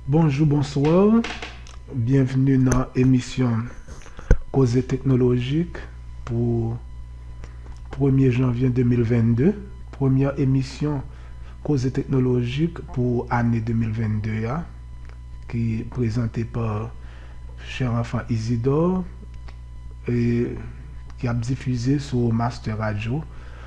Bonjou bonswa byenvni nan emisyon koze teknolojik pou premye janvyen 2022 premyè emisyon koze teknolojik pou ane 2022 a ki prezante pa chè anfan Izidò e ki ap difize sou mastè radyo.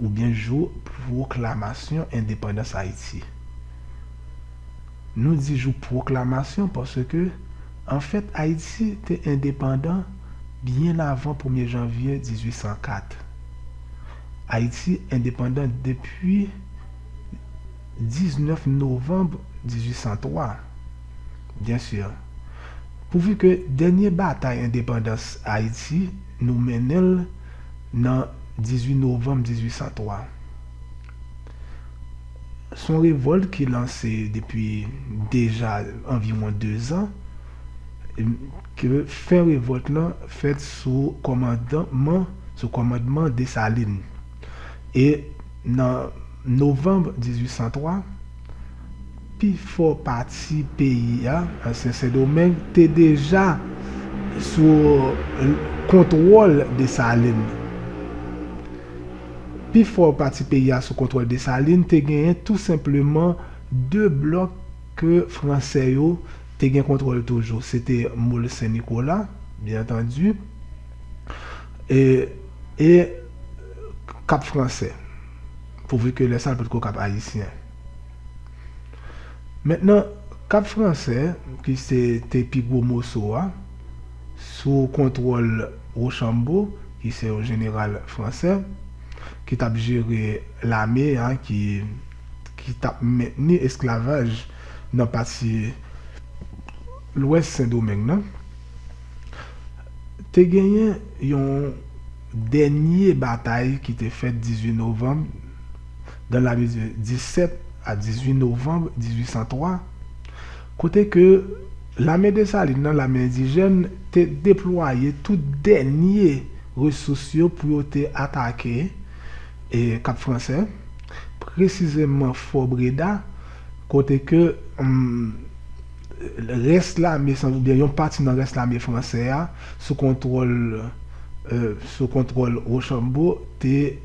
oubyen jou pwoklamasyon endepandans Ayiti. Nou di jou pwoklamasyon paske, anfèt, Ayiti te endepandan byen avan premye janvye 1804. Ayiti endepandan depi 19 novanb 1803. Byen sur. Pouvu ke dènye batay endepandans Ayiti nou mennen l nan 18 novanm 1803. S on revòlt ki lanse depi deja anviwon dezan, ke fen revòlt lan fèt sou kòmandman, sou kòmandman Desalin. E nan novanm 1803. Pi fò pati peyi a, ansyen Sendomeng, te deja sou kontwòl Desalin. Pi fò pati peyi a sou kontwòl Desalin te genyen tou senpleman de blòk ke Franse yo te gen kontwòl toujou. Se te Mol Sen Nikola, byen antandi, e Kap Franse, pouvu ke lè sa l potko Kap Ayisyen. Mentnan, Kap Fransè, ki se te pi gwo moso a, sou kontwòl Wochanbo, ki se yon jeneral fransè, ki tap jere lame a ki ki tap mentni esklavaj nan pati lwès Sendomeng nan, te genyen yon dènye batay ki te fèt 18 novanm. dan lane 17 a 18 novanm 1803, kote ke lame Desalin nan, lame endijèn, te deplwaye tout dènye resous yo pou yo te atake Kap Fransè, presizeman Fò Breda, kote ke rès lame san oubyen yon pati nan rès lame fransè a, sou kontwòl sou kontwòl Wochanbo, te.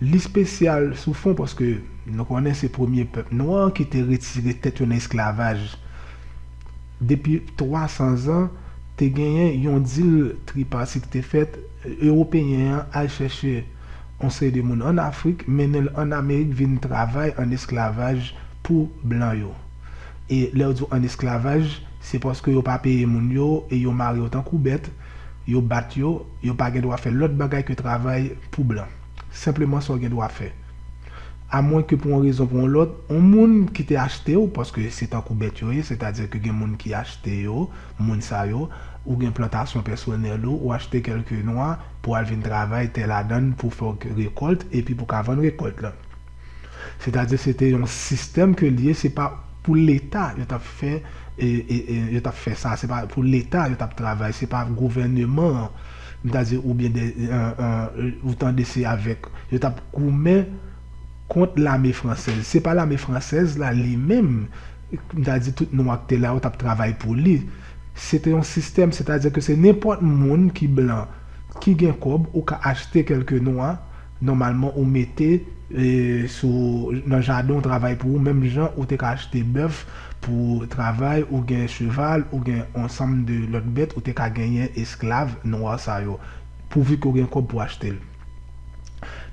Li spesyal sou fon paske nou konnen se premye pèp nwa ki te retire tèt yo nan esklavaj. Depi 300 zan, te genyen yon dil tripati ki te fèt, Ewopeyen an al chèche yon seri de moun an Afrik, mennen l an Amerik vin travay an esklavaj pou blan yo. E lè yo di w an esklavaj, se paske yo pa peye moun yo e yo mare yo tankou bèt, Yo bat yo, yo pa gen dwa fè lòt bagay ke travay pou blan. Senpleman sa w gen dwa fè. A mwen ke pou yon rezon pou yon lòt, yon moun ki te achte w, paske se tankou bèt yo ye, sètadi ke gen moun ki achte yo, moun sa yo, ou gen plantasyon pèsonèl ou, ou achte kèlke nwa pou al vin travay tè ladan l pou fè w rekòlt epi pou ka vann rekòlt lan. Sètadi se te yon sistèm ke li ye se pa pou leta yo tap fè yo tap fè sa se pa pou leta yo tap travay se pa gouvèneman an m ta di oubyen de ou tande se avèk yo tap goumen kont lame fransèz se pa lame fransèz la li menm m ta di tout nwa ki te la yo tap travay pou li se te yon sistèm sètadi ke se nenpòt moun ki blan ki gen kòb ou ka achte kèlke nwa. Nòmalman ou mete sou nan jaden w travay pou ou menm jan ou te ka achte bèf pou travay ou gen cheval ou gen on sanm de lòt bèt ou te ka genyen esklav nwa sa yo pouvu ke w gen kòb pou achte l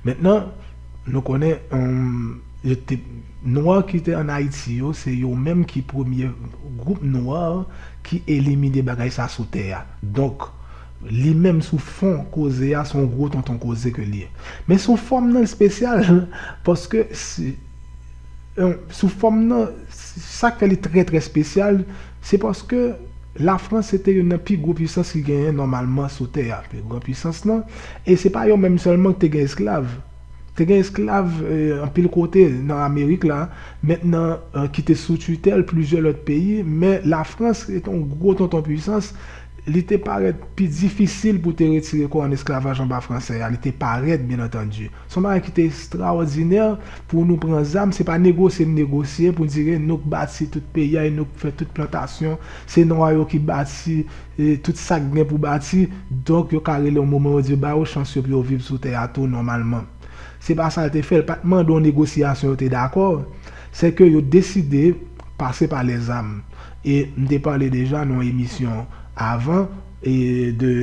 mentnan nou konnen yo te nwa ki te an ayiti yo se yo menm ki premye gwoup nwa ki elimine bagay sa sou tè a donk. Li menm sou fon koze a son gwo tonton koze ke li ye. Men sou fòm nan li spesyal paske sou fòm nan sak fè li trè trè spesyal se paske la frans se te youn nan pi gwo pwisans ki genyen nòmalman sou tè a pi gran pwisans lan e se pa yo menm sèlman ki te gen esklav te gen esklav anpil kote nan amerik la men nan ki te sou titèl plizyè lòt peyi men la frans se te yon gwo tonton pwisans Li te parèt pi difisil pou te retire kò ann esklavaj anba Franse a, li te parèt, byen antandi. Se yon bagay ki te estrawòdinè pou nou pran zam, se pa negosye n negosye pou dire nou k bati tout peyi a e nou k fè tout plantasyon, se nwa yo ki bati tout sa k gen pou bati, donk yo ka rele yon moman yo di yo ba yo chans yo pou yo viv sou tè a tou nòmalman. Se pa sa l te fè, l pa t mande yon negosyasyon yo te dakò, sèke yo deside pase pa lèzam. E m te pale deja nan yon emisyon avan e de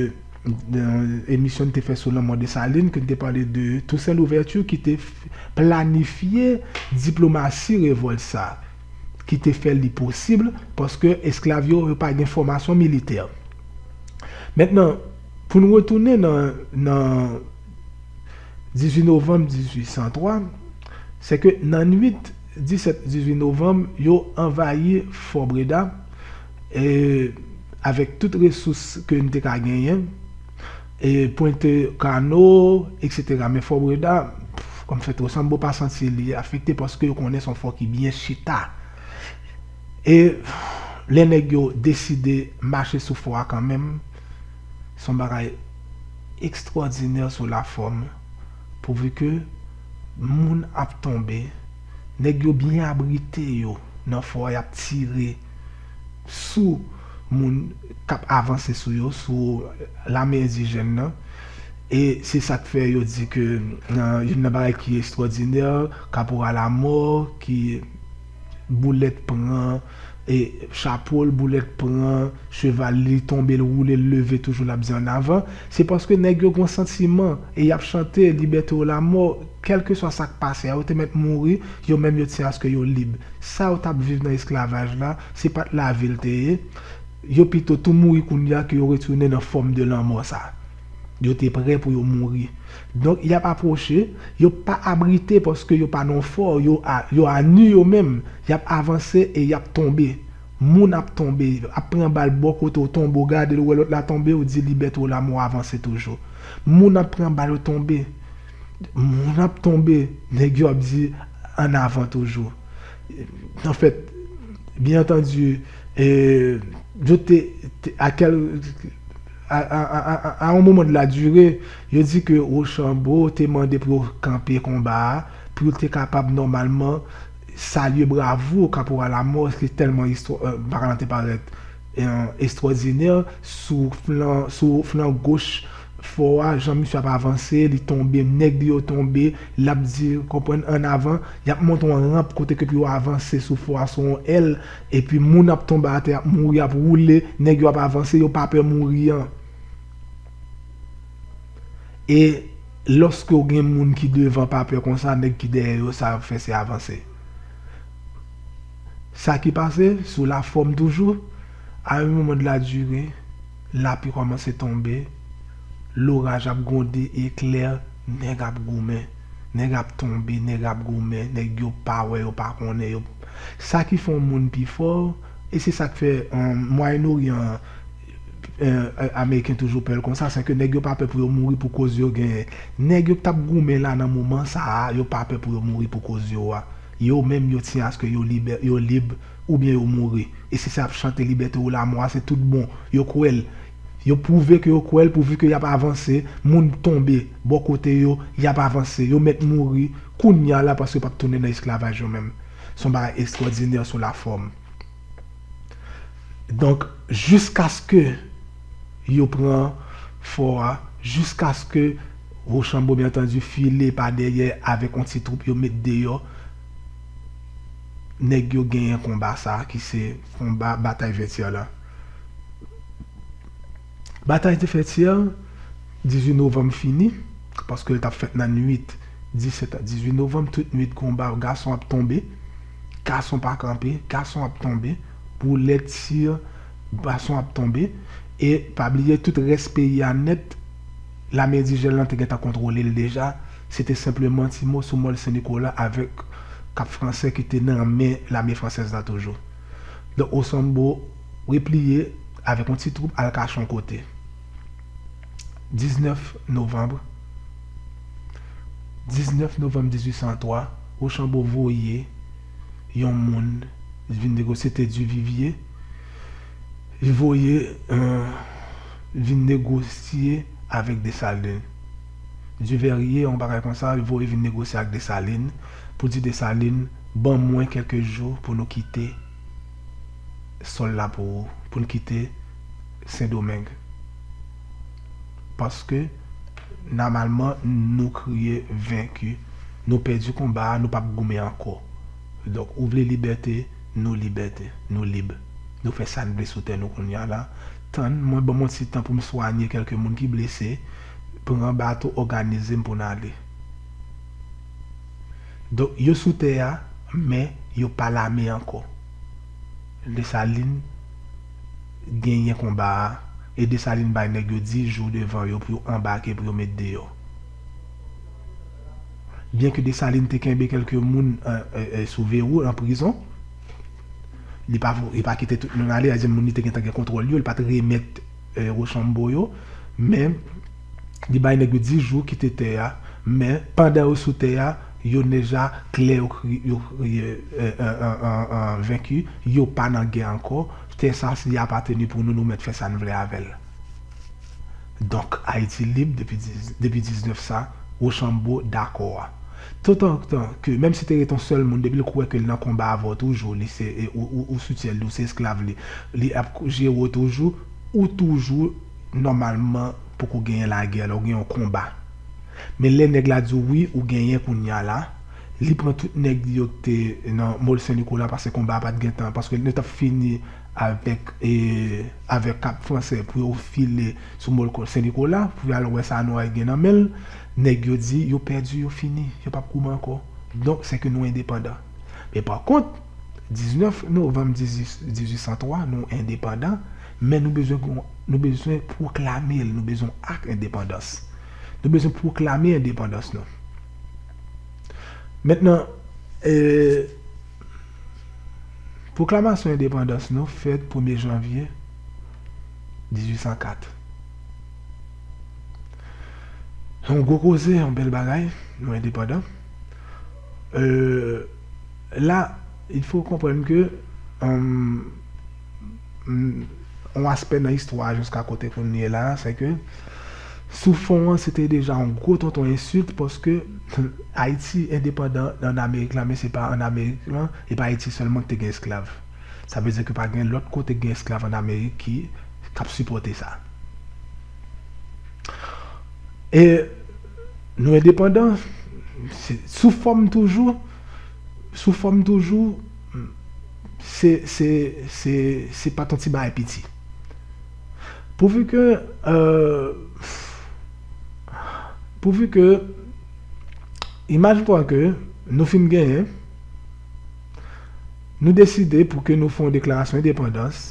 yon emisyon n te fè sou lanmò Desalin ke n te pale de Tousen Louvèti ki te planifye diplomasi revòlt sa a, ki te fè li posib paske esklav yo, yo pa gen fòmasyon militè. Mentnan, pou n retounen nan nan 18 novanm 1803, se ke nan nwit. 17, 18 novanm yo anvayi Fò Breda e avèk tout resous ke n te ka genyen e pwente kano eksetera men Fò Breda kòm fèt Rochambeau pa santi li afekte paske yo konnen se yon fò ki byen chita e lè nèg yo deside mache sou fò a kanmenm se yon bagay ekstwòdinè sou lafòm. Pouvu ke moun ap tonbe, nèg yo byen abrite yo nan fò a yap tire sou moun kap avanse sou yo, sou lame endijèn nan, e se sak fè yo di ke youn nan bagay ki estwòdinè, kaporal Amò ki boulèt pran. Chapo l boulèt pran cheval li li tonbe l woule l leve toujou lap di annavan se paske nèg yo gon santiman e yap chante libète ou lamò kèlkeswa sak pase a yo te mèt mouri yo menm yo tiye aske yo lib sa yo tap viv nan esklavaj la se pat lavi l te ye yo pito tou mouri kounya ke yo retounen nan fòm de lanmò sa yo te prè pou yo mouri. Donk y ap apwoche, yo pa abrite paske yo pa nan fò, yo a, yo a nu yo menm, y ap avanse e y ap tonbe. Moun ap tonbe, ap pran bal bò kote w tonbe w gade l ou wè lòt la tonbe w di libète ou lamò avanse toujou. Moun ap pran bal yo tonbe, moun ap tonbe, nèg yo ap di an avan toujou. Anfèt, byen antandi, yo te, te, a kèl, a, a, a, a, a on moman de la dure, Yo di ke Rochambeau te mande pou yo kanpe konba a, pou yo te kapab nòmalman salye bravo Kaporal Amos ki tèlman paran te parèt estwòdinè sou flan sou flan goch fò a, jan misye ap avanse, li tonbe, nèg li yo tonbe, l ap di, konprann, an avan, y ap monte yon ranp kote ke pou yo avanse sou fò a sou yon èl, epi moun ap tonbe atè, y ap mouri, y ap woule, nèg yo ap avanse, yo pa pè mouri an. E loske ou gen moun ki devan pa pè konsa nèg ki dèyè yo sa yap fè se avanse. Sa ki pase sou la fòm toujou a yon moman de la dure lapli kòmanse tonbe loraj ap gwonde eklè nèg ap goumen nèg ap tonbe nèg ap goumen nèg yo pa wè yo pa konnen yo sa ki fè yon moun pi fò e se sak fè an mwayen oryan an Ameriken toujou pèl konsa sè ke nèg yo pa pè pou yo mouri pou koz yo genyen nèg yo ktap goumen la nan moman sa a yo pa pè pou yo mouri pou koz yo a yo menm yo tiyen aske yo libè yo lib oubyen yo mouri e si se ap chante libète ou lamò a se tout bon yo kwèl yo pwouve ke yo kwèl pouvu ke yap avanse moun tonbe bò kote yo yap avanse yo mèt mouri kounya la paske yo pap tounen nan esklavaj yo menm son bagay estwòdinè sou lafòm. Donk jiskaske yo pran fò a, jiskaske Rochambeau byen antandi file pa dèyè avèk yon ti twoup yo met deyò, nèg yo genyen konba sa a ki se konba batay Vètyè la. Batay de Vètyè, 18 novanm fini, paske l t ap fèt nan nuit 17 a 18 novanm, tout nuit konba gason ap tonbe. Gason pa kanpe, gason ap tonbe, boule tir gason ap tonbe e pa bliye tout rès peyi a nèt lame endijèn lan te gentan kontwole l deja, se te senpleman ti mo sou Mòl Sen Nikola avèk Kap Fransè ki te nan men lame fransèz la toujou. Donk Osanbo repliye avèk yon ti twoup al kache yon kote. 19 novanm 19 novanm 1803, Rochambeau voye yon moun vin negosye, se te Duvivier, li voye vin negosye avèk Dessalines. Duverrier, yon bagay konsa, li voye vin negosye ak Dessalines pou di Dessalines, ban mwen kèlke jou pou nou kite sòl la pou ou, pou n kite. Sendomeng. Paske namalman nou kriye venki. Nou pèdi konba a, nou pap goumen ankò. Donk ou vle libète, nou libète. Nou lib. Nou fè sa n vle sou tè nou kounye a la. Tann mwen, ban mwen yon ti tan pou m swanye kèlke moun ki blese, pran bato, òganize m pou n ale. Donk yo sou tè a, men yo pa lame ankò. Desalin genyen konba a e Desalin bay nèg yo 10 jou devan yo pou yo anbake pou yo met deyò. Byen ke Desalin te kenbe kelke moun sou verou nan prizon, li pa li pa kite tout moun ale, sa vle di moun li te gentan gen kontwòl yo, li pat remèt Rochambeau yo men Li bay nèg yo 10 jou kite tè a, men pandan yo sou tè a, yo neja klè yo venki, yo pa nan gè ankò, tè sa li apateni pou nou, nou mèt fè sa n vle avè l. Donk Ayiti lib depi 19 sa Wochanbo dakò a. Totantan ke menm si te ret yon sèl moun depi l kwè ke l nan konba avè w toujou li se ou soutyen li, ou se esklav li, li ap jere w toujou, ou toujou. Nòmalman poko genyen lagè la ou gen yon konba men lè nèg la diw wi ou genyen kounya la li pran tout nèg li yo ki te nan mall sen nikola paske konba a pat gentan paske yo tap fini avèk avèk kap fransè pou yo file sou mall sen nikola pou yo al wè sa noy gen nan menl nèg yo di yo pèdi yo fini yo pap kouman ankò donk sèke nou endepandan men pa kont 19 novanm 1803 nou endepandan. Men nou bezwen gon, nou bezwen pwoklame l, nou bezwen ak endepandans. Nou bezwen pwoklame endepandans nou. Mentnan, ee, pwoklamasyon endepandans nou fèt premye janvye 1804. Se yon gwo koze, yon bèl bagay, nou endepandan. Ee, la, il fo konprann ke, anm. Yon aspè nan istwa a jiska kote kounye la a se ke sou fon an se te deja yon gwo tonton ensilt paske Ayiti endepandan an Amerik la men se pa an Amerik lan e pa Ayiti sèlman ki te gen esklav. Sa vle di ke pa gen lòt kote ki gen esklav an Amerik ki k ap sipòte sa. E nou endepandan sou fòm toujou sou fòm toujou se se se se pat yon ti bagay piti pouvu ke pouvu ke imaj pwa ke nou fin genyen nou deside pou ke nou fè yon deklarasyon endepandans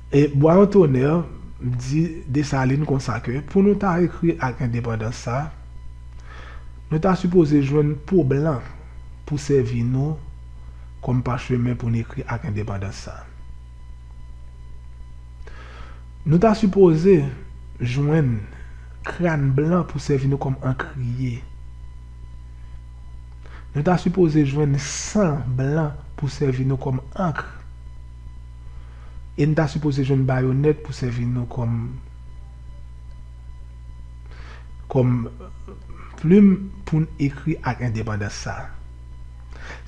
e Bwayon Tonè di Desalin konsa ke pou nou ta ekri ak endepandans sa nou ta sipoze jwenn po blan. pou sèvi nou kòm pachemen pou n ekri Ak Endepandans sa. Nou ta sipoze jwenn kran blan pou sèvi nou kòm ankriye. Nou ta sipoze jwenn san blan pou sèvi nou kòm ankr. E n ta sipoze jwenn bayonèt pou sèvi nou kòm. kòm plim pou n ekri ak endepandans sa a.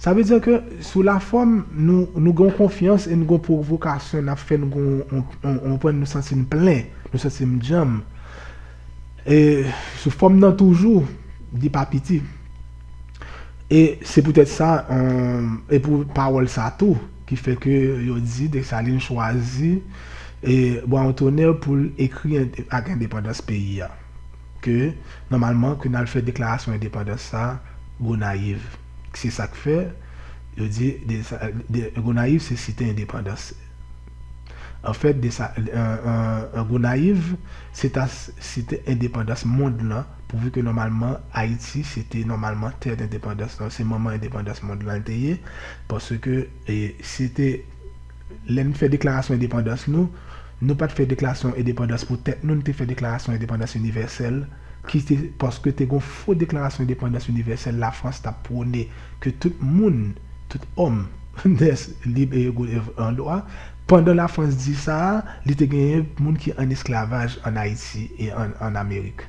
Sa vle di ke sou lafòm nou gen yon konfyans e nou gen yon pwovokasyon n ap fè nou gen yon pwen nou santi n plen, nou santi m djanm. E sou fòm nan toujou li pa piti. E se poutèt sa e pou pawòl sa tou ki fè ke yo di Dessalines chwazi. E bwa on tonè poul ekri ak endepandans peyi a ke nòmalman ke nal fè deklarasyon endepandans sa Gonayiv k se sak fè yo di Gonayiv se site endepandans an fèt desa Gonayiv se ta site endepandans mond lan pou vu ke nòmalman Ayiti se te nòmalman tè endepandans se manman endepandans mond lan te ye paske se te. lè n fè deklarasyon endepandans nou, nou pa t fè deklarasyon endepandans pou tèt nou, nou te fè deklarasyon endepandans inivèsèl, ki te paske te gen yon fo deklarasyon endepandans inivèsèl Lafrans t ap pwone ke tout moun, tout òm, nès lib e ego devan lwa. Pandan Lafrans di sa a, li te genyen moun ki ann esklavaj ann Ayiti e ann Amerik.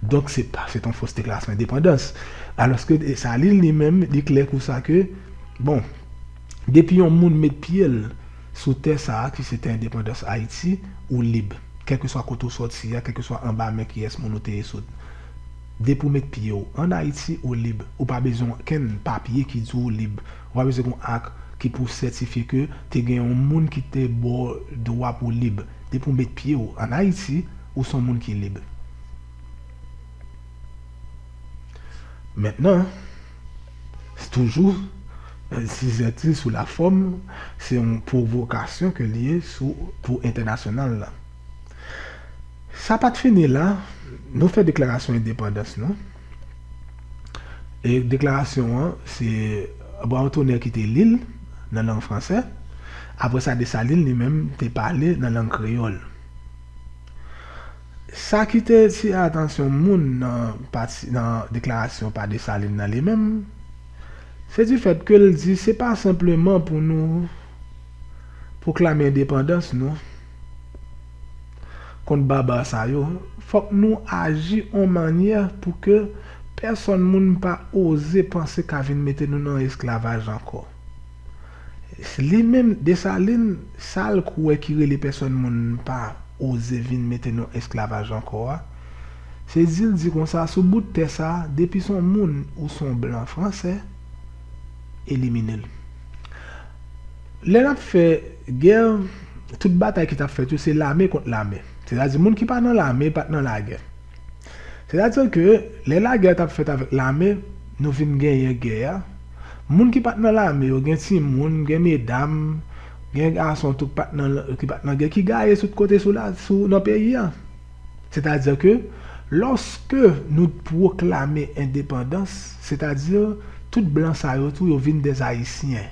Donk, se pa se t yon fos deklarasyon endepandans. Alòske Dessalines li menm, li klè kou sa ke, bon, Depi yon moun met pye l sou tè sa a ki se tè endepandans Ayiti, ou lib. Kèlkeswa kote ou sòti a, kèlkeswa anba men kiyès moun ou te ye sot. Depi w met pye w ann Ayiti, ou lib. Ou pa bezwen okenn papye ki di w lib. Ou pa bezwen gen yon ak ki pou sètifye ke te gen yon moun ki te ba w dwa pou w lib. Depi w met pye w ann Ayiti, ou s on moun ki lib. Mentnan. Toujou, Sizèti sou la fòm, se yon pwovokasyon ke l ye sou pou entènasyonal la. Sa pa t fini la, nou fè deklarasyon endepandans nou, e deklarasyon an, se Bwawontonè ki te li l nan lang fransè, apre sa Desalin li menm te pale nan lang kreyòl. Sa ki te etire atansyon moun nan deklarasyon pa Desalin nan li menm, se di fèt ke l di se pa senpleman pou nou pwoklame endepandans nou kont baba sa yo, fòk nou aji on mannyè pou ke pèsonn moun pa oze panse ka vin mete nou nan esklavaj ankò. Li menm Desalin sal kwè ki rele pèsòn moun pa oze vin mete nou esklavaj ankò a, se dil di konsa sou bout tè sa depi son moun ou son blan fransè eliminel. Lè nap fè gè tout batay ki tap fèt yo se lame kont lame. Sètadi moun ki pa nan lame pat nan lagè. Sètadi ke lè lagè a t ap fèt avèk lame, nou vin genyen gè a, moun ki pa t nan lame yo, gen timoun, gen medam, gen gason tou ki pa t nan gè, ki gaye tout kote nan peyi a. Sètadi ke lòske nou pwoklame endepandans, sètadi tout blan sa yo tou yo vin dèzayisyen.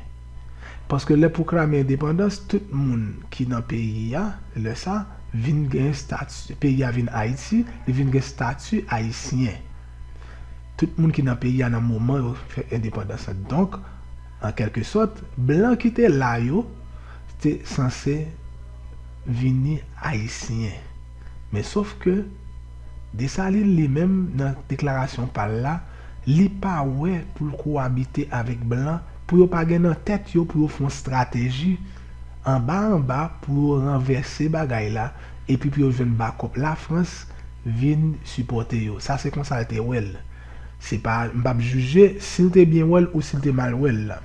Paske lè pwoklame endepandans tout moun ki nan peyi a lè sa vin gen stati, peyi a vin Ayiti, li vin gen stati ayisyen. Tout moun ki nan peyi a nan moman yo fè endepandans la. Donk, an kèlke sòt, blan ki te la yo te sanse vini ayisyen. Men sof ke, Desalin li menm nan deklarasyon pa l la, li pa wè pou l kowabite avèk blan pou yo pa gen nan tèt yo pou yo fè yon estrateji anba anba pou yo ranvèse bagay la epi pou yo jwenn bakòp Lafrans vin sipòte yo. Sa se konsa l te wè l. Se pa, m p ap jije si l te byen wè l ou si l te mal wè l la.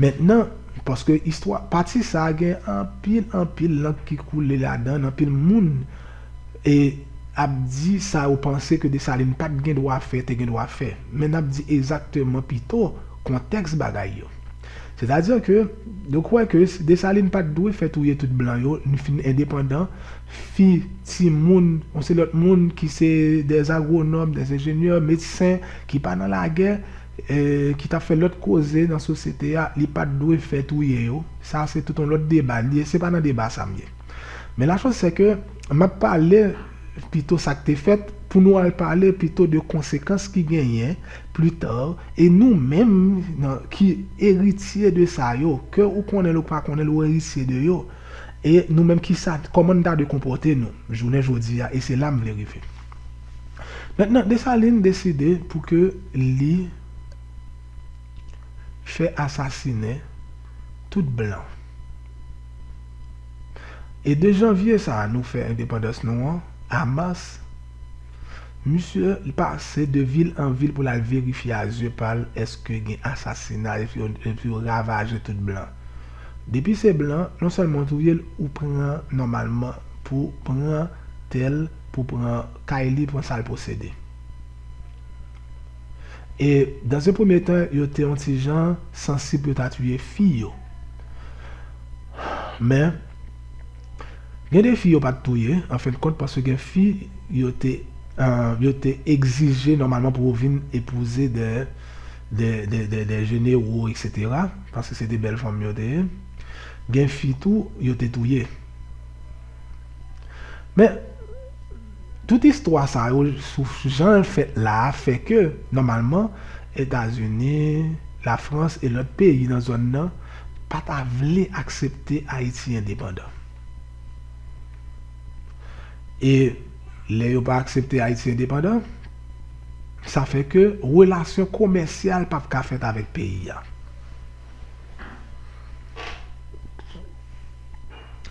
Mentnan, paske istwa, pati sa a gen anpil, anpil lank ki koule ladan l, anpil moun e ap di sa yo panse ke Desalin pa t gen dwa fè, te gen dwa fè. Men n ap di ezakteman pito kontèks bagay yo. Sètadi ke yo kwè ke Desalin pa t dwe fè touye tout blan yo, n fin endepandan, fi, timoun, on se lòt moun ki se dè agwonòm, dè enjenyè, medsen, ki pa nan lagè, ki tap fè lòt koze nan sosyete a li pat dwe fè touye yo sa se tout yon lòt deba li ye se pa nan deba sa m ye men la chòz sè ke map pale pito sak te fèt pou nou al pale pito de konsekans ki genyen plita e nou menm nan ki eritye de sa yo ke ou konnen l ou pa konnen l ou eritye de yo e nou menm kisa kòman nou ta dwe konpòte nou jounen jodi a e se la m vle rive. Mentnan Desalin deside pou ke li fè asasinen tout blan. E 2 janvye sa nou fè endepandans nou an, a mas, misye li pase de vil an vil pou lal verifye a zye pal eske gen asasina epi yo ravaje tout blan. Depi se blan, non sèlman ou touye l ou pran nòmalman pou pran tèl. Pou pran kay li, pran sa l posede. E, dans un premier temps, yo te yon ti jan sansib pou yo ta tiye fi yo. Men, gen de fi yo pa t touye, an fen de kont, paske gen fi yo te, yo te egzije nòmalman pou yo vin epouze de, de, de, de jenero, eksetera, paske se te bèl fanm yo te ye. Gen fi tou, yo te touye. Men, tout istwa sa yo sou jan l fèt la a fè ke, nòmalman, Etazini, Lafrans e lòt peyi nan zòn nan pa ta vle aksepte Ayiti endepandan. E lè yo pa aksepte Ayiti endepandan, sa fè ke relasyon komèsyal p ap ka fèt avèk peyi a.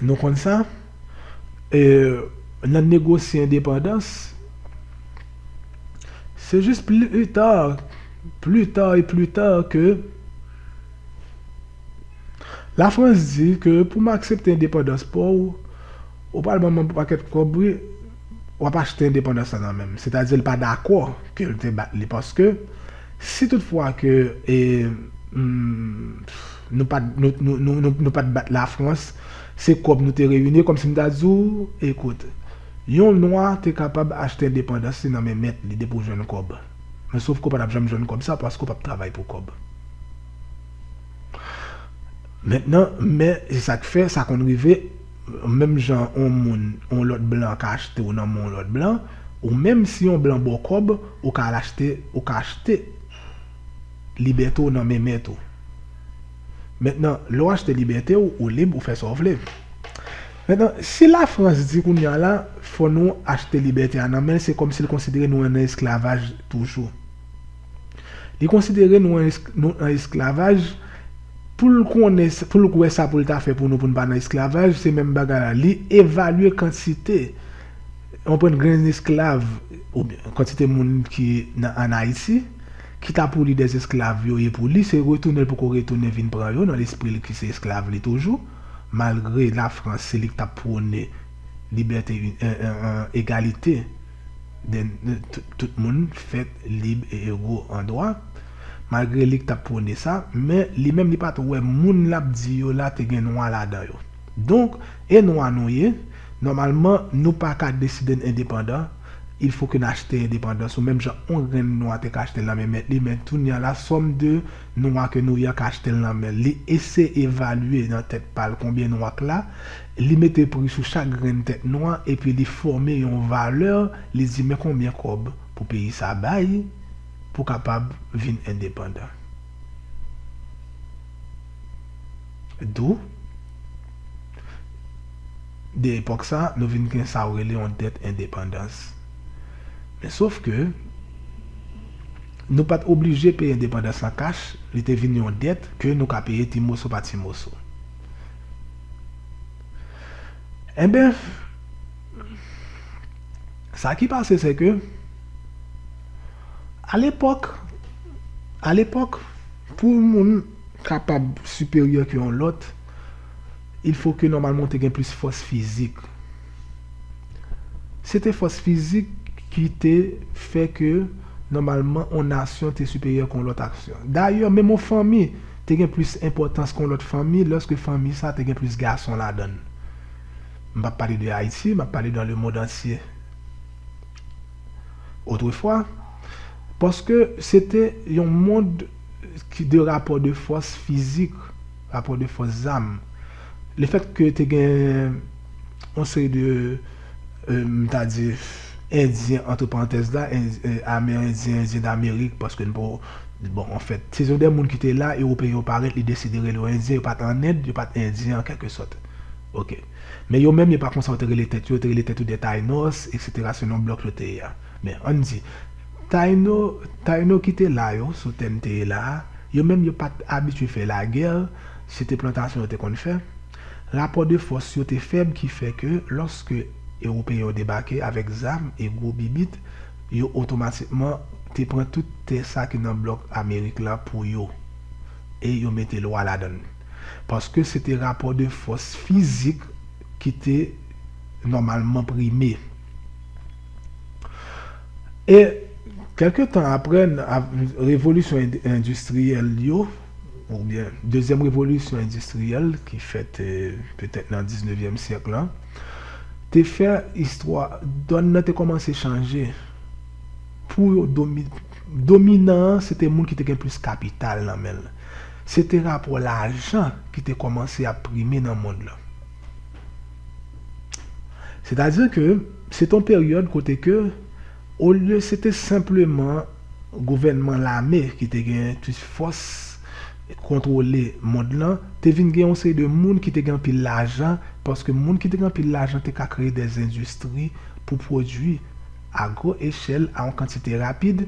Nou konn sa? E nan negosye endepandans, se jis pli ta, pli ta e pli ta ke Lafrans di ke pou m aksepte endepandans pa w, ou pral ban m yon pakèt kòb wi, w ap achte endepandans lan nan men m. Sètadi l pa dakò ke l te bat li paske si tout fwa ke e. Nou pa nou pa t bat lafrans se kòb nou te reyini kòmsi m ta di w ekout yon nwa te kapab achte endepandans li nan men mèt li depi w jwenn kòb men sof ke w pa t ap janm jwenn kòb sa paske w pa p travay pou kòb mentnan men se sa k fè sa konn rive menm jan yon moun yon lòt blan ka achte w nan men yon lòt blan ou menm si yon blan ba w kòb ou ka al achte ou ka achte libète w nan men mèt ou. Mentnan, lè w achte libète w, ou lib, ou fè sa w vle. Mentnan, si Lafrans di kounye a la, fò nou achte libète a nan men l, se kòmsi l konsidere nou an esklavaj toujou. Li konsidere nou an esklavaj, pou l konnen, pou l wè sa pou l ta fè pou nou pou n pa nan esklavaj, se menm bagay la. Li evalye kantite. Ou konprann grenn esklav oubyen kantite moun ki nan an Ayiti, ki ta pou li dè esklav yo ye pou li, se retounen l poko retounen vin pran yo nan lespri l ki se esklav li toujou, malgre Lafrans se li k t ap pwone libète egalite dè tout moun fèt lib e ego an dwa, malgre li k t ap pwone sa, men li menm li pa t wè moun l ap di yo la te gen nwa ladan yo. Donk, e nwa nou ye, nòmalman nou pa ka deside n endepandan, il fo ke n achte endepandans nou menm jan on grenn nwa te ka achte l nan men mèt li men tounye an la sòm de nwa ke nou ye an ka achte l nan men l. Li ese evalye nan tèt pa l konbyen nwa k la, li mete pri sou chak grenn tèt nwa epi li fòme yon valè li di men konbyen kòb pou peyi sa bay pou kapab vin endepandan. Dou. De epòk sa, nou vin gen sa ou rele yon dèt endepandans. Men sof ke, nou pa t oblije peye endepandans an kach, li te vin yon dèt ke nou ka peye ti moso pa ti moso. Enben, sa ki pase se ke. Alepòk, alepòk, pou yon moun kapab siperyè ke yon lòt, ilfo ke nòmalman ou te gen plis fòs fizik. Se te fòs fizik ki te fè ke nòmalman yon nasyon te siperyè ke yon lòt asyon. Dayè, menm yon fanmi te gen plis enpòtans ke yon lòt fanmi lòske fanmi sa te gen plis gason ladan l. M pa p pale de Ayiti, m ap pale dan lemond antye. Otrefwa, paske se te yon mond ki de rapò de fòs fizik, rapò de fòs zam, lefèt ke te gen yon seri de, m ta di, Endyen, antre parantèz la, Amerendyen, Endyen Damerik, paske n pa, bon, anfèt, se te de moun ki te la, Ewopeyen yo parèt, li deside rele yo Endyen, yo pa t an End, yo pa t Endyen an kèlke sòt. Ok. Men yo menm yo pa konsa yo te rele tèt yo, yo te rele tèt yo des Taïnos, eksetera selon blòk yo te ye a. Men, ann di, Taïno, Taïno ki te la yo, sou tè m te ye la a, yo menm yo pa t abitye fè lagè, se te plantasyon yo te konn fè. Rapò de fòs yo te fèb ki fè ke lòske Ewopeyen yo debake avèk zam e gwo bibit, yo otomatikman te pran tout tè sa ki nan blòk Amerik la pou yo e yo mete lwa ladann. paske se te rapò de fòs fizik ki te nòmalman prime. E, kèlke tan apre revolisyon endistriyèl yo, oubyen dezyèm revolisyon endistriyèl ki fèt petèt nan diznevyèm syèk la, te fè istwa, dòn nan te kòmanse chanje pou yo domine. Dominan an se te moun ki te gen plis kapital nan men l. Se te rapò lajan ki te kòmanse ap prime nan mond lan. Sètadi ke se te yon peryòd kote ke olye se te senpleman gouvènman lame ki te gen plis fòs kontwole mond lan, te vin gen yon seri de moun ki te gen anpil lajan, paske moun ki te gen anpil lajan te ka kreye dèzendistri pou pwodui a gwo echèl a yon kantite rapid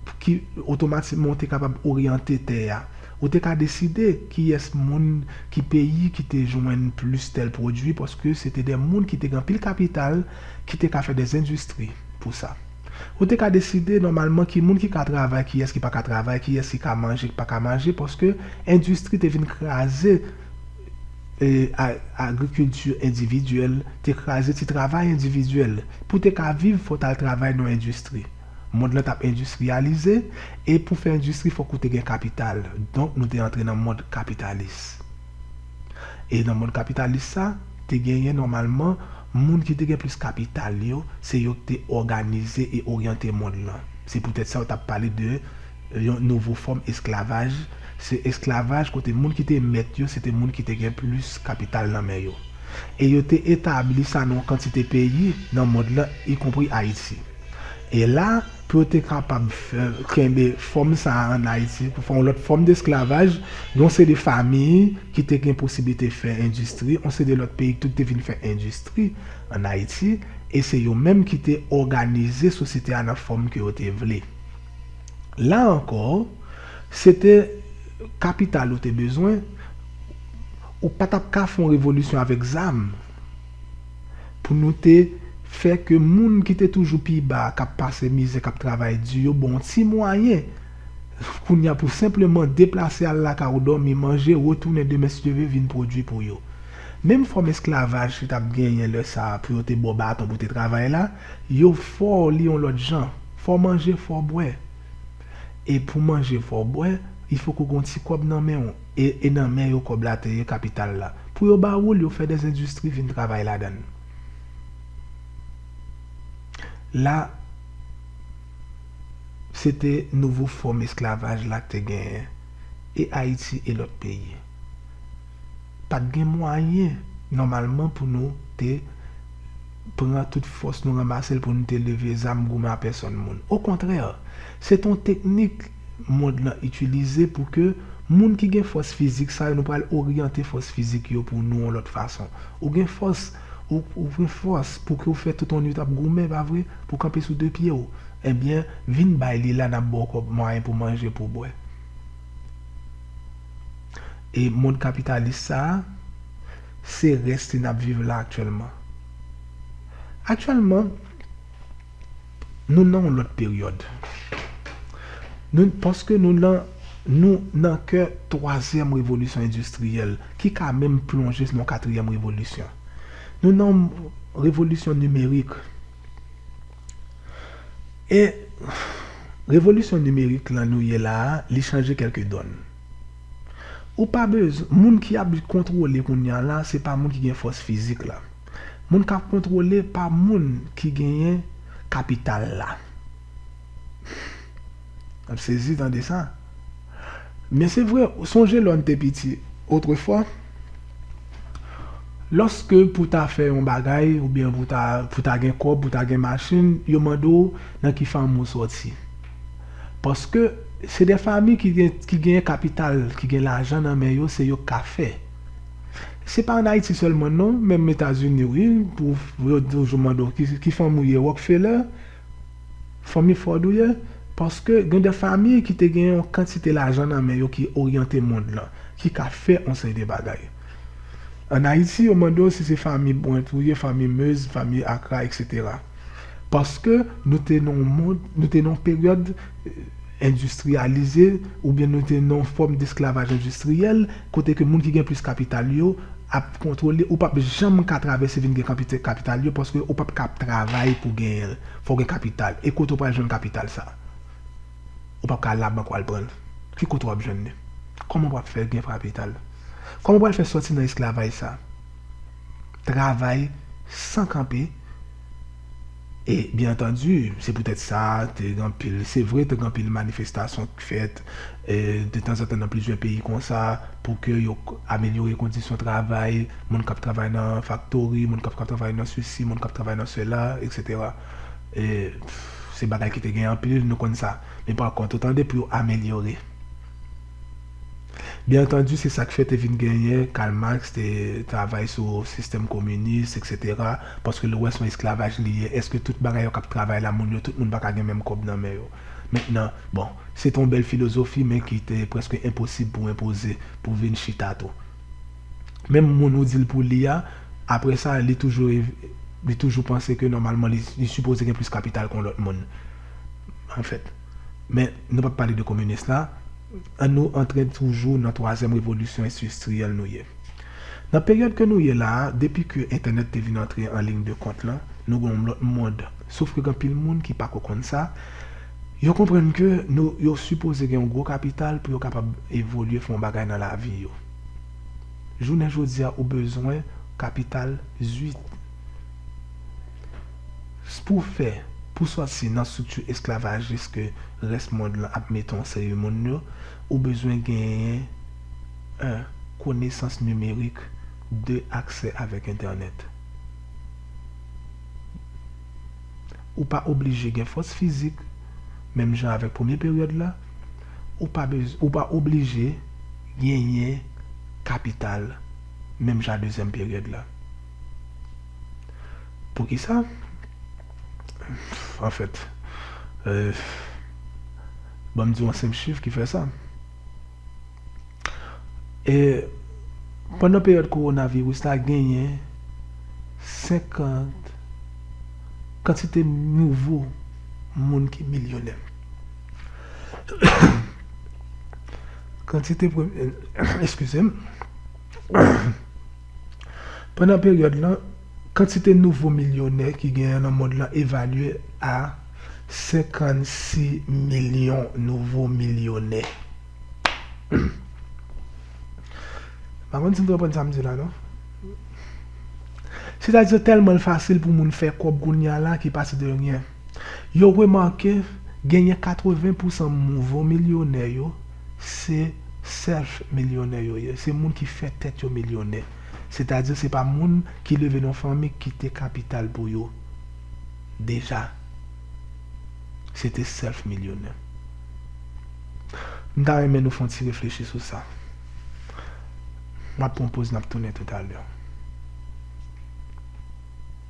pou ki otomatikman ou te kapab oryante tè a. Ou te ka deside kiyès moun, ki peyi ki te jwenn plis tèl pwodui paske se te de moun ki te gen anpil kapital ki te ka fè de zendistri pou sa. Ou te ka deside nòmalman ki moun ki ka travay, kiyès ki pa ka travay, kiyès ki ka manje, ki pa ka manje paske endistri te vin kraze. Agrikilti endividyèl te kraze ti travay endividyèl. Pou te ka viv, fò w t al travay nan yon endistri. Mond lan t ap endistriyalize, e pou fè endistri fòk ou te gen kapital. Donk nou te antre nan mond kapitalis. E nan mond kapitalis sa, te genyen nòmalman moun ki te gen plis kapital yo, se yo ki te òganize e oryante mond lan. Se poutèt sa yo t ap pale de Yon nouvo fòm esklavaj, se esklavaj kote moun ki te mèt yo se te moun ki te gen plis kapital nan men yo. E yo te etabli sa nan yon kantite peyi nan mond lan, ikonpri Ayiti. E la, pou yo te kapab kenbe fòm sa a ann Ayiti, pou fè yon lòt fòm desklavaj, gen yon seri de famiy ki te gen posiblite fè endistri, yon seri de lòt peyi tou ki te vin fè endistri ann Ayiti, e se yo menm ki te òganize sosyete a nan fòm ke yo te vle. La ankò, se te kapital ou te bezwen, ou pa t ap ka fè yon revolisyon avèk zam pou nou te fè ke moun ki te toujou pi ba a, k ap pase mizè, k ap travay di yo ba w yon ti mwayen kounye a pou senpleman deplase al lakay ou dòmi, manje, retounen demen si Dye vle vin pwodui pou yo. Menm fòm esklavaj ki t ap genyen lè sa a pou yo te ba w baton pou w te travay la, Yo fò li yon lòt jan. Fò manje fò bwè. E pou manje fò bwè, il fòk ou gen yon ti kòb nan men ou. E e nan men yo kòb la te ye, kapital la. Pou yo ba ou l, yo fè dè endistri vin travay ladan l. La, se te nouvo fòm esklavaj la k te genyen. E Ayiti e lòt peyi. pat gen mwayen nòmalman pou nou te pran tout fòs nou ranmase l pou nou te leve zam goumen a pèsòn moun. Okontrè, se te yon teknik mond lan itilize pou ke moun ki gen fòs fizik sa yo, nou pral oryante fòs fizik yo pou nou yon lòt fason. Ou gen fòs, ou gen fòs pou ke w fè tout yon nuit ap goumen, pa vre? Pou w kanpe sou de pye w. Ebyen, vin bay li la, n ap ba w kòb mwayen pou w manje, pou w bwè. E mond kapitalis sa a, se rès li n ap viv la aktyèlman. Aktyèlman, nou nan yon lòt peryòd. Paske nou nan nou nan kè twazyèm revolisyon endistriyèl ki ka menm plonje nan katriyèm revolisyon. Nou nan revolisyon nimerik. E revolisyon nimerik lan nou ye la a, li chanje kèlke dòn. Ou pa bez, moun ki ap kontwole kounye a la, se pa moun ki gen fòs fizik la. Moun k ap kontwole pa moun ki genyen kapital la. N ap sezi tande sa. Men se vre, sonje lò n te piti, otrefwa. Lòske pou w ta fè yon bagay oubyen pou w ta gen kòb, pou w ta gen machin, yo mande w nan ki fanmi ou sòti. Paske se de fanmi ki gen kapital, ki gen lajan nan men yo, se yo k ka fè. Se pa an Ayiti sèlman non, menm Etazini wi, yo toujou mande w ki fanmi ou ye, Rockefeller? Fanmi Ford ou ye? Paske gen de fanmi ki te gen yon kantite lajan nan men yo ki oryante mond lan, ki ka fè yon seri de bagay. An Ayiti, yo mande w si se fanmi Brant ou ye, fanmi Meuse, fanmi Accra, eksetera. Paske nou te nan yon mond, nou te nan yon peryòd endistriyalize, oubyen nou te nan yon fòm desklavaj endistriyèl, kote ke moun ki gen plis kapital yo ap kontwole, ou pap janm ka travèse vin gen kapital yo paske ou pap ka ap travay pou genyen l, fò w gen kapital, e kote w pral jwenn kapital sa? Ou pap ka al labank wal pran l, ki kote wap jwenn li? Kòman wap fè gen kapital? Kòman w pral fè sòti nan esklavaj sa? Travay san kanpe. E, byen antandi, se poutèt sa, te gen anpil, se vre, te gen anpil manifestasyon k fèt detanzantan nan plizyè peyi konsa pou ke yo amelyore kondisyon travay moun k ap travay nan faktori, moun k ap travay nan sesi, moun k ap travay nan sela, eksetera. E, se bagay ki te gen anpil, nou konn sa. Men pakont, otan depi yo amelyore. Byen antandi, se sa k fè te vin genyen Karl Marx te travay sou sistèm kominis, eksetera, paske l wè s on esklavaj li ye. Èske tout bagay yo k ap travay la, moun yo tout moun pa ka gen menm kòb nan men yo? Mentnan, bon, se te yon bèl filozofi men ki te prèske enposib pou enpoze, pou vin chita tou. Menm moun ou di l pou li a, apre sa, li toujou li toujou panse ke nòmalman li sipoze gen plis kapital k on lòt moun, anfèt. Men, nou pap pale de kominis la, an nou antre toujou nan twazyèm revolisyon ensistriyèl nou ye. Nan peryòd ke nou ye la a, depi ke entènèt te vin antre an lign de kont lan, nou gen yon lòt mond, sof ke gen anpil moun ki pako konn sa, yo konprann ke nou, yo sipoze gen yon gwo kapital pou yo kapab evolye fè yon bagay nan lavi yo. Jounen jodi a ou bezwen kapital zwit. S pou w fè pou sòti nan strikti esklavajis ke rès mond lan ap mete yon seri moun yo, ou bezwen genyen 1 konesans nimerik 2 aksè avèk entènèt. Ou pa oblije gen fòs fizik, menm jan avèk premye peryòd la, ou pa bezw ou pa oblije genyen kapital menm jan a dezyèm peryòd la. Poukisa? Anfèt, ban m di w yon senp chif ki fè sa. E pandan peryòd kowonaviris la genyen 50 kantite nouvo moun ki milyonè. Kantite, eskize m. Pandan peryòd lan, kantite nouvo milyonè ki genyen nan mond lan evalye a 56 milyon nouvo milyonè. Sètadi yo tèlman l fasil pou moun fè kòb kounya la ki pase de ryen. Yo remake genyen 80 pousan mouvo milyonè yo se self milyonè yo ye, se moun ki fè tèt yo milyonè. Setadi se pa moun ki leve nan fanmi ki kite kapital pou yo deja. Se te self milyonè. M ta renmen nou fon ti reflechi sou sa. M ap pran poz n ap tounen toutalè.